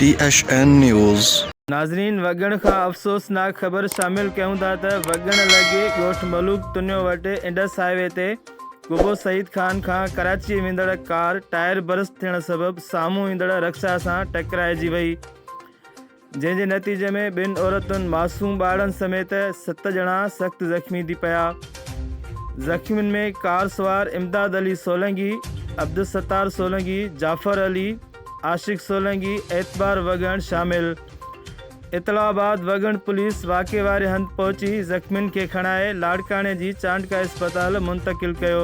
ٽي H N news. ناظرين وڳڻ کان افسوسناڪ خبر شامل ڪيون ٿا ته وڳڻ لڳي ڳوٺ ملوڪ تنيو وٽ انڊس هاء وي تي ڳوڀو سعيد خان کان ڪراچي ويندڙ ڪار ٽائر برسٽ ٿيڻ سبب سامهون ايندڙ رڪشا سان ٽڪرائجي وئي جنهن جي نتيجي ۾ ٻن عورتن معصوم ٻارڙن سميت ست ڄڻا سخت زخمي ٿي پيا زخمين ۾ ڪار سوار امداد علي سولنگي عبدالستار سولنگي جعفر علي عاشق سولنگي اعتبار وڳڻ شامل اطلاع بعد وڳڻ پوليس واقعي واري هنڌ پهچي زخمين کي کڻائي لاڙڪاڻي جي چانڊڪا اسپتال منتقل ڪيو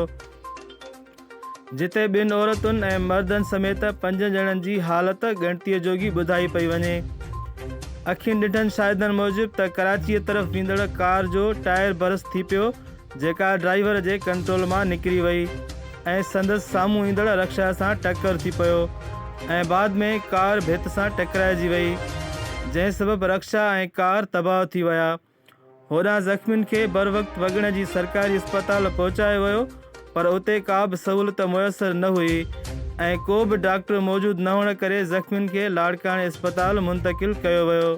جتي ٻن عورتن ۽ مردن سميت پنجن ڄڻن جي حالت ڳڻتي جوڳي ٻڌائي پئي وڃي اکين ڏٺن شاهدن موجب ته ڪراچي طرف ويندڙ ڪار جو ٽائر برس ٿي پيو جيڪا ڊرائيور جي ڪنٽرول مان نڪري وئي ۽ سندس سامهون ايندڙ رڪشا سان ٽڪر ٿي پيو ۽ بعد ۾ ڪار ڀت سان ٽڪرائجي وئي جنهن سبب رڪشا ۽ ڪار تباهه ٿي ويا هوڏانهن زخمين کي بروقت وڳڻ جي سرڪاري اسپتال پهچايو ويو پر اتي ڪابه سهولت ميسر نه هئي ۽ ڪوبه ڊاڪٽر موجود نه هئڻ ڪري زخمين کي لاڙڪاڻي اسپتال منتقل ڪيو ويو.